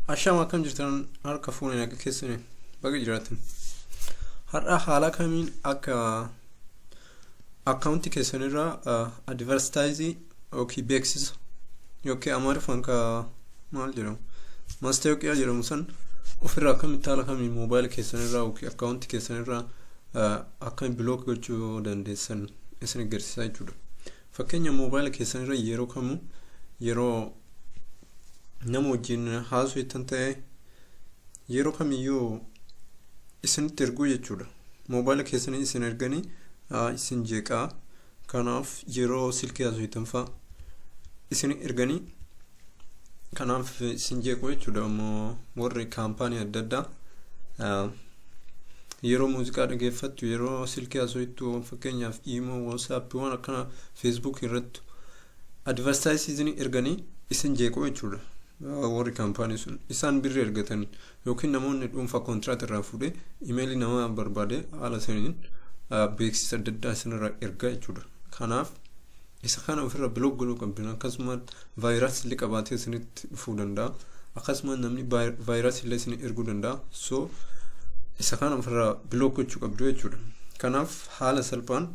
Ashaama akkam jirtan harka fuunee naga keessanii baga jiraatan. Har'a haala kamiin akka akkaawuntii keessanirraa advarstaayizii yookiin beeksisa yookiin amaariffaan ka maal jedhamu maastaawoqiyaa jedhamu san ofirraa akkamitti haala kamiin moobaayila keessanirraa yookiin akkaawuntii keessanirraa akkamiin bilook gochuu dandeessan isin agarsiisaa jechuudha. Fakkeenya moobaayila keessan irra yeroo kamuu yeroo nama wajjin haasoftan ta'e yeroo kamiyyuu isinitti erguu jechuudha. Moobaayila keessanii isin erganii isin jeeqaa kanaaf yeroo silkii haasoftan fa'a isin erganii kanaaf sin jeequu jechuudha ammoo warri kaampaanii adda addaa yeroo muuziqaa dhageeffattu yeroo silkii haasoftu fakkeenyaaf iimoo waasaappii waan akkana feesbuuk irratti advartaayisiizinii erganii isin jeequu jechuudha warri kaampaanii sun isaan birri ergatanii yookiin namoonni dhuunfaa kontiraat irraa fuudhee imeelii namaa barbaade haala saniin beeksisa adda addaa isinirraa ergaa jechuudha. Kanaaf isa kana ofirra bilook godhuu qabdan akkasumas vaayirasii illee qabaatee isinitti dhufuu danda'a. Akkasumas namni vaayirasii illee isin erguu danda'a. So isa kana ofirraa bilook gochuu qabdu jechuudha. Kanaaf haala salphaan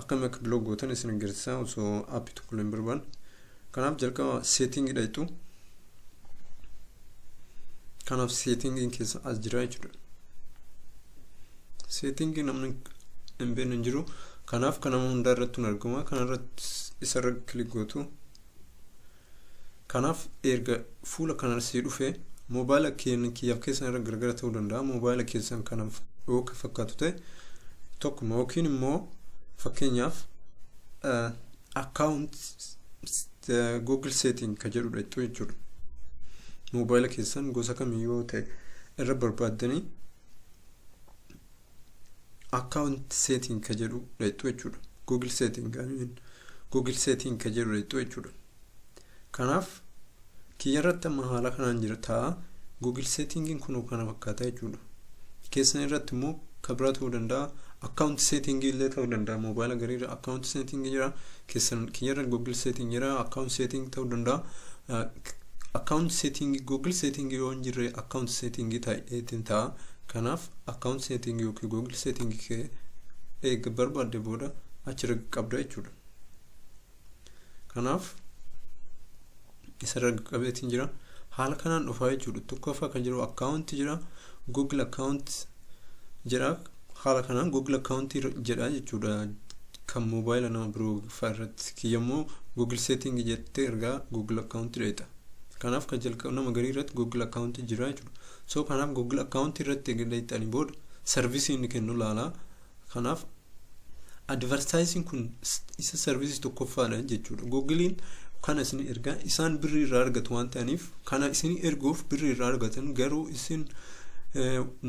akkamitti akka bilook gootan isin agarsiisa osoo aappii tokko illee hin barbaanne. Kanaaf jalqaba setting dhaqxu. Kanaaf settingin keessa as jira jechuudha. Settingin namni hin beekne hin jiru. Kanaaf kan nama hundaa irratti hin argama. Kanarratti isarra kilik gootu. Kanaaf erga fuula kanarra sii dhufee moobaayila keenya kiyyaaf keessan irra gargara ta'uu danda'a. Moobaayila keessan kanaaf yoo fakkaatu ta'e tokkuma yookiin immoo fakkeenyaaf account google setting ka jedhudha jechuun jechuudha moobaayila keessan gosa kamii yoo ta'e irra barbaaddanii account setting ka jedhudha jechuudha google setting gaamiin google setting ka jedhudha jechuudha kanaaf Kiyyarratti amma haala kanaan jira ta'a. Google settingin kunoo kana fakkaata jechuudha. Keessan irratti immoo kan biraa ta'uu danda'a. Account setting illee ta'uu danda'a. Moobaayila gariirra account setting jira. Keessan kiyyarra Google setting jira. Account setting ta'uu danda'a. Account setting Google setting yoo hin jirre account setting ta'eetiin ta'a. Kanaaf account setting yookiin Google setting kee eega barbaadde booda achirra qabda jechuudha. kanaaf isarra qabeetiin jira haala kanaan dhufaa jechuudha tokkoffaa kan jiru akkaawunti jira google akkaawunti jira haala kanaan google akkaawunti jedha jechuudha kan moobaayila nama biroo fa'aa irratti kiyyammoo google setting jettee ergaa google akkaawunti dheeta kanaaf kan jalqaba nama garii irratti google akkaawunti jira jechuudha so kanaaf google akkaawunti irratti egaa dheetanii booda sarvisii inni kennu laalaa Kanaaf advertising kun isa service tokkoffaadha jechuudha. Googiliin kana isin ergaa isaan birrii irraa argatu waan ta'aniif kana isin erguuf birrii irraa argatan garuu isin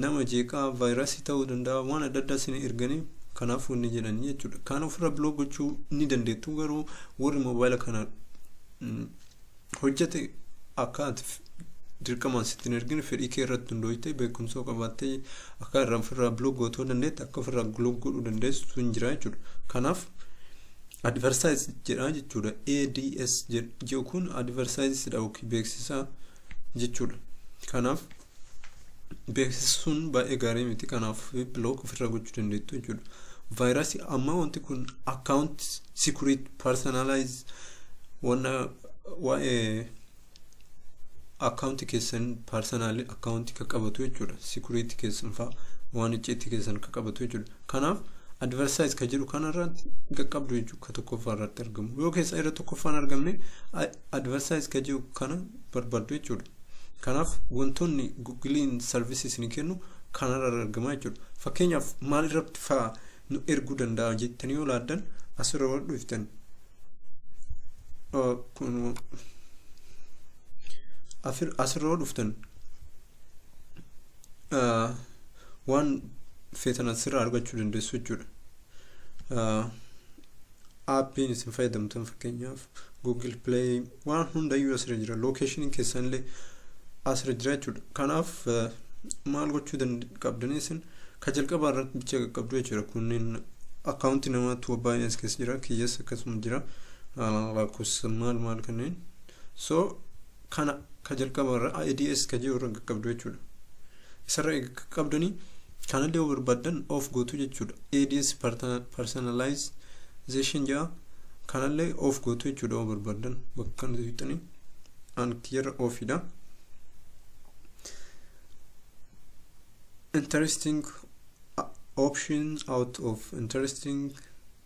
nama jeeqaa vaayirasii ta'uu danda'a waan adda addaa isin erganii kanaaf wanni jedhan jechuudha. Kan ofirra biloog gochuu ni dandeettu garuu warri moobaayila kana hojjate akka ati dirqamaan sitti hin ergine fedhii kee irratti hundooyte beekumsa yoo qabaatte akka irraa ofirraa biloog gootoo dandeette akka ofirraa biloog godhuu dandeessu sun hin jira jechuudha. Kanaaf adversaayis jedha jechuudha. ADS jedhu kun adversaayis dha yookiin beeksisa jechuudha. Kanaaf beeksisuun baay'ee gaarii miti kanaaf bilook ofirraa gochuu dandeettu jechuudha. Vaayirasii amma wanti kun akkaawunti sikuriit parsanaalaayiz wanna waa'ee akkaawunti keessan parsanaalii akkaawunti kan qabatu jechuudha. Sikuriit keessan fa'a waan icciitti keessan kan qabatu jechuudha. Kanaaf advarsaayiz kan jedhu kanarratti qaqqabdu jechuudha kan tokkoffaa irratti argamu. Yoo keessa irra tokkoffaan argamne advarsaayiz kan jedhu kana barbaaddu jechuudha. Kanaaf wantoonni Google'n service isin kennu kanarra argamaa jechuudha. Fakkeenyaaf maal irratti fa'aa nu erguu danda'a jettanii yoo laaddan asirra wal dhuftan. Asirra wal dhuftan waan feetan asirra argachuu dandeessu jechuudha. aappiin isin fayyadamtan fakkeenyaaf google play waan hundayyuu asirra jira lookeeshiniin keessanillee asirra jira jechuudha kanaaf maal gochuu qabdanii isin ka jalqabaa irratti bicha qaqqabdu jechuudha kunneen akkaawuntii namaatu baay'ee as keessa jira kiyyas akkasuma jira lakkoofsa maal maal kanneen so kana ka jalqaba irra ADS ka jiru irra qaqqabdu jechuudha. Isarra eega qaqqabdanii kanallee yoo barbaaddan off gootu jechuudha. ADS personalization jedha kanallee off gootu jechuudha yoo barbaaddan bakka kana tuqxanii an kiyyarra offiidha. Interesting option out of interesting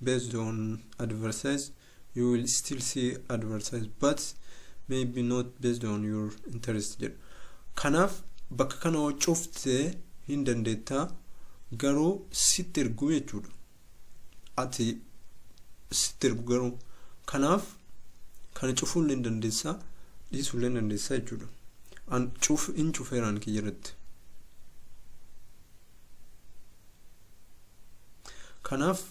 based on advertise you will still see advertise but maybe not based on your interest jedhu kanaaf bakka kana yoo cufte hin dandeettaa garuu sitti ergu jechuudha ati sitti ergu garuu kanaaf kana cufuu illee hin dandeessaa dhiisuu illee hin dandeessaa jechuudha an cuf hin cufeeraan kiyya irratti kanaaf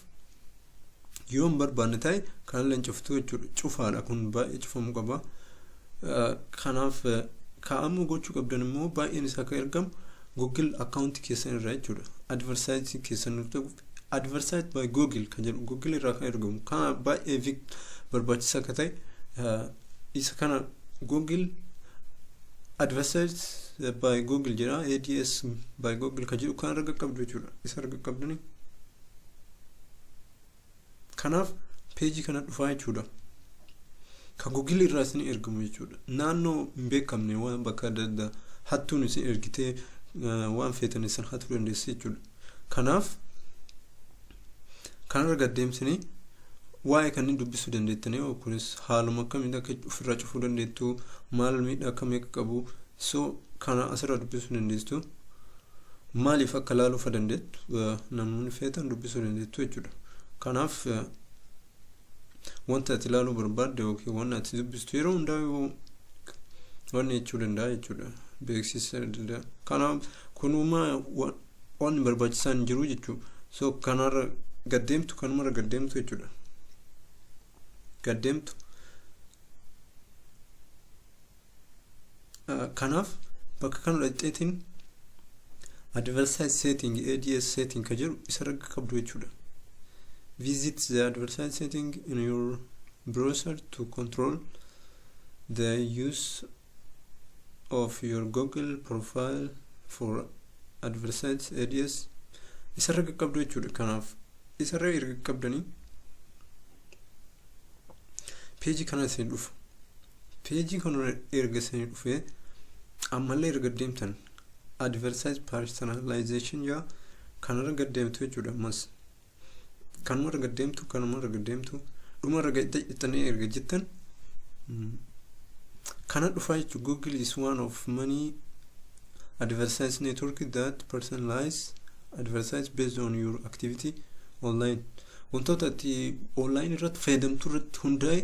yoo hin barbaanne ta'e kanallee cuftuu jechuudha cufaadha kun baay'ee cufamuu qaba kanaaf kaa'amuu gochuu qabdan immoo baay'een isaa akka ergamu google akkaawuntii keessan irraa jechuudha adversaayizii keessan nuuf ta'u adversaayizii by google kan jedhu google irraa kan ergamu kana baay'ee vik barbaachisaa akka ta'e isa kana google adversaayizii by google jedha ads by google kan jedhu kan arga qabdu jechuudha isa arga qabdanii kanaaf peejii kana dhufaa jechuudha kan gugil irraa isin ergamu jechuudha naannoo hin beekamne waan bakka adda addaa hattuun isin ergitee waan feetan isin hatuu dandeessi jechuudha kanaaf kanarra gaddeemsinii waa'ee kanneen dubbisuu dandeettanii kunis haaluma akkamiin akka ofirraa cufuu dandeettu maal miidhaa akkamii akka qabu so kana asirraa dubbisuu dandeessu maaliif akka ilaaluu fa dandeettu namoonni feetan dubbisuu dandeettu jechuudha. Kanaaf wanta ati ilaaluu barbaadde yookiin waan ati dubbistu yeroo hundaa waan jechuu danda'a jechuudha. Beeksisa danda'a. Kanaaf kunumaa waan barbaachisaan hin jiru jechuudha. So kanarra gaddeemtu kanumarra gaddeemtu jechuudha. Gaddeemtu. kanaaf bakka kana dhaqxeetiin adversaise setting ads setting ka jedhu isa ragga qabdu jechuudha visit the adversaise setting in your browser to control the use of your google profile for adversaise ads isa ragga qabdu jechuudha kanaaf isa ragga erga qabdanii peejii kana isin dhufa Peejii kanarra erga isanii dhufee ammallee erga deemtan advertise personalization jaa kanarra gad deemtu jechuudha ammas kanuma erga deemtu kanuma erga deemtu dhuma erga ittanii erga jettan kana dhufaa jechuudha google is one of many advertise network that personalize advertise based on your activity online Wantoota ati online irratti fayyadamtu irratti hundaa'e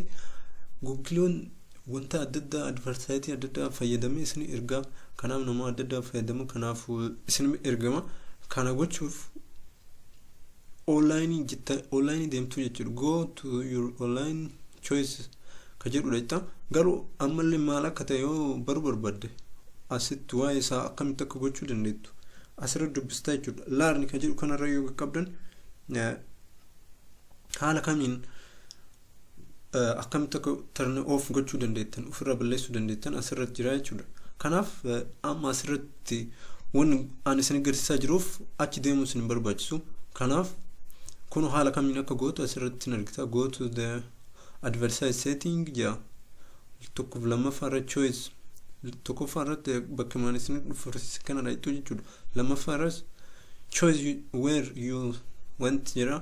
Google'n wanta adda addaa advertising adda addaa fayyadamee isin ergaa kanaaf nama adda addaa fayyadama kanaaf isin ergama kana gochuuf online jetta online deemtuu jechuudha go to your online choices ka jedhudha jetta garuu ammallee maal akka ta'e yoo baruu barbaadde asitti waa'ee isaa akkamitti akka gochuu dandeettu asirra dubbistaa jechuudha laarni ka jedhu kanarra yoo qaqqabdan haala kamiin akkamitti akka turn off gochuu dandeettan ofirraa balleessuu dandeettan asirratti jira jechuudha kanaaf amma asirratti wanni ani isin agarsiisaa jiruuf achi deemuu isin hin barbaachisu kanaaf kun haala kamiin akka gootu asirratti hin argita go to the advertise setting jaa tokkoof lammaffaa irra choice tokkoffaa irratti bakka maan isin dhufu kana dhayxuu jechuudha lammaffaa irras choose where you want jira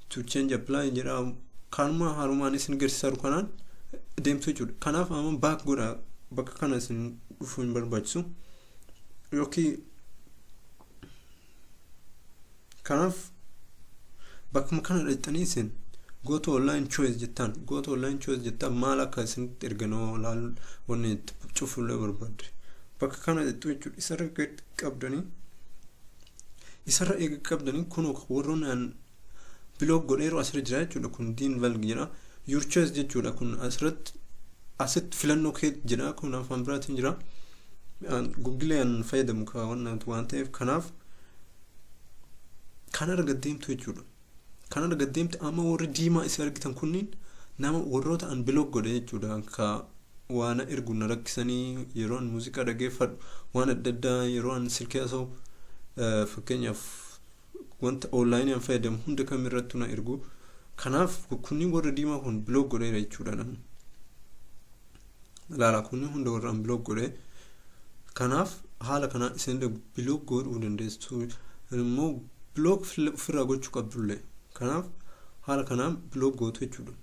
to change apply jira kaanuma haarumaan isin garsiisaru kanaan deemtu jechuudha kanaaf amma baak godha bakka kana isin dhufuu hin barbaachisu yookiin Kanaaf bakkuma kana dhaqxanii isin go to online choice jettaan go to online choice jettaan maal akka isinitti erganoo laal wanni itti cufuullee barbaadde bakka kana dhaqxu jechuudha isarra gad qabdanii isarra eega qabdanii kun warroonni aan biloog godheeru asirra jira jechuudha kun diin valg jedha your choice jechuudha kun asirratti asitti filannoo kee jedha kun afaan biraatiin jira gugilee aan fayyadamu waan ta'eef kanaaf kan argat deemtu jechuudha kan argat deemtu amma warri diimaa isin argitan kunniin nama warroota an biloog godhe jechuudha ka waan ergu na rakkisanii yeroo an muuziqaa dhageeffadhu waan adda addaa yeroo an silkii haasa'u eh, fakkeenyaaf wanta onlaayinii an fayyadamu hunda kam irrattu na ergu kanaaf kunniin warra diimaa kun biloog godheera jechuudha namni ilaala kun hunda warra unblock godhe kanaaf haala kanaan isin block godhuu dandeessu immoo block ofirraa gochuu qabdullee kanaaf haala kanaan block gootu jechuudha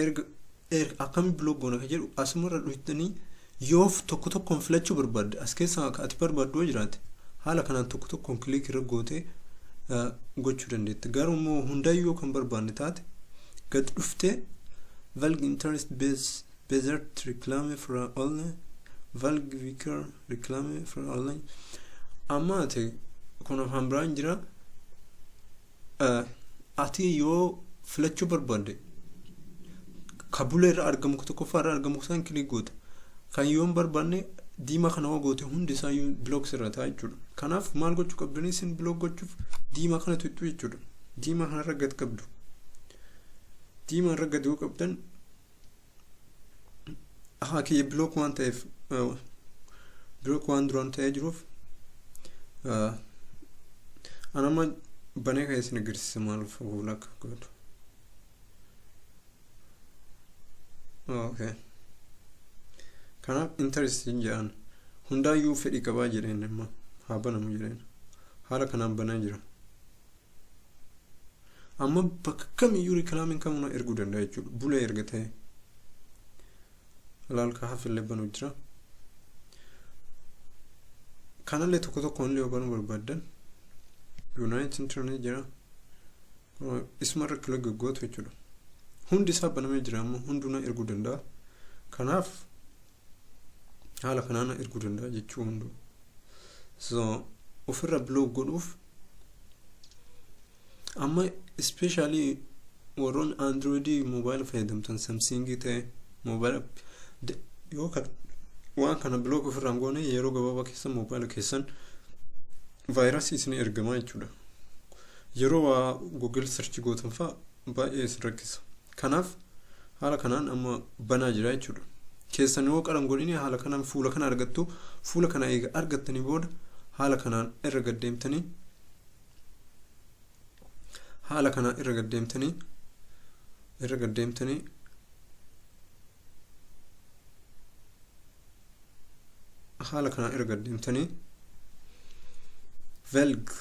erga akkami block goona kan jedhu asumarra dhuftanii Yoof tokko tokkoon filachuu barbaadde, as keessaa ka ati barbaaddu yoo jiraate, haala kanaan tokko tokkoon click irra gootee gochuu dandeetti. Garuu immoo hundayyuu yoo kan barbaadne taate, gad dhuftee Valg interest base Bezert reclame fra online Valg vicar reclame fra online amma ati kun afaan biraan jira ati yoo filachuu barbaadde kan bulee irra argamu kan tokkoffaa irra argamu isaan kilik goota kan yoo hin barbaanne diimaa kana hoo goote hundi isaa iyyuu bilook irra ta'a jechuudha kanaaf maal gochuu qabdanii isin bilook gochuuf diimaa kana tuqxu jechuudha diimaa kana irra gad qabdu diimaa irra gad yoo qabdan haa kiyya bilook waan ta'eef bilook waan duraan ta'ee jiruuf anama banee kan isin agarsiisa maal fuula akka godhu okay kanaaf interest hin jedhan hundaayyuu fedhii qabaa jedheen amma haa banamu jedheen haala kanaan banaa jira amma bakka kamiyyuu rikilaamiin kamuu na erguu danda'a jechuudha bulee erga ta'e ilaalka hafillee banuu jira kanallee tokko tokkoon illee banuu barbaaddan yuunaayit intarneet jira isumarra kila gaggootu jechuudha hundi isaa banamee jira amma hunduu na erguu danda'a kanaaf haala kanaan na erguu danda'a jechuu hunduu so ofirra biloog godhuuf amma ispeeshaalii warroon androidii moobaayila fayyadamtan samsingii ta'e moobaayila yoo kan waan kana bilook ofirraan goone yeroo gabaabaa keessa moobaayila keessan vaayirasii isin ergamaa jechuudha yeroo waa google search gootan fa'a baay'ee isin rakkisa kanaaf haala kanaan amma banaa jira jechuudha keessan yoo qaran godhini haala kanaan fuula kana argattu fuula kana eega argattanii booda haala kanaan irra gaddeemtanii haala kanaan irra gaddeemtanii irra gaddeemtanii haala kanaan erga deemtanii velg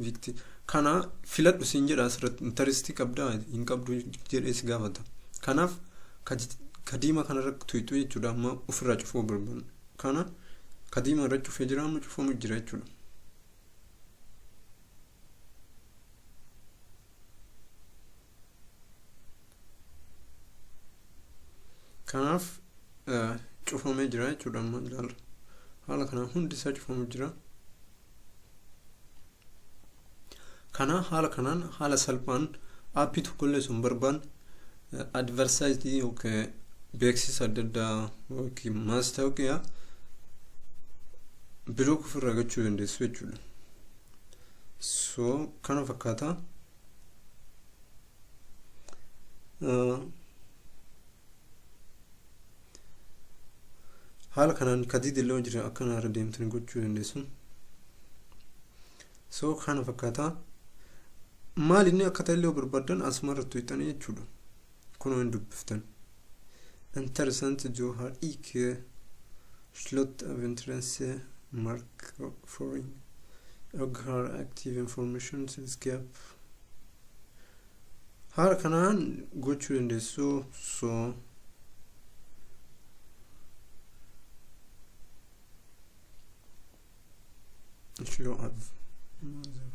vikti kana filadhu siin jedha asirratti intaristii qabdaa hin qabdu jedhee si gaafata kanaaf kadiima kanarratti tuyxu jechuudha amma ofirraa cufuu barbaadu kana kadiima irra cufee jira amma cufamu jira jechuudha kanaaf cufamee jira jechuudha amma ilaalla haala kanaan hundi isaa cufamu jira kana haala kanaan haala salphaan aappii tokkollee sun barbaan advarsaayitii yookiin beeksisa adda addaa yookiin maastaawoqiyaa bilook ofirraa gachuu dandeessu jechuudha so kana fakkaataa haala kanaan kadiid illee jira akkana irra deemtanii gochuu dandeessu soo kana fakkaataa maal inni akka ta'e illee barbaaddan asuma irratti tuqxanii jechuudha kunoo hin dubbiftan interessant johar ike slot of interest mark foreign oghar active information sales gap haala kanaan gochuu dandeessu so If you have mother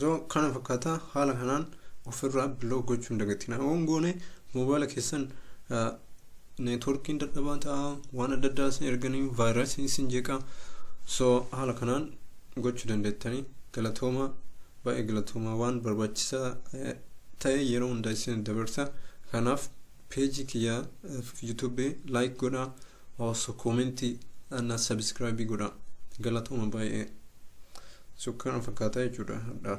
so kana fakkaata haala kanaan ofirraa biloo gochuu hin dagatina waan goone moobaayila keessan neetworkiin dadhabaa ta'a waan adda addaa isin erganii vaayirasiin isin jeeqa so haala kanaan gochuu dandeettanii galatooma Baay'ee galatoomaa waan barbaachisaa ta'e yeroo hunda isin dabarsa. Kanaaf peejii kiyya YouTube like godhaa osoo koomentii na subscribe godhaa. Galatooma baay'ee. Sukkaara fakkaataa jechuudha hadhaa.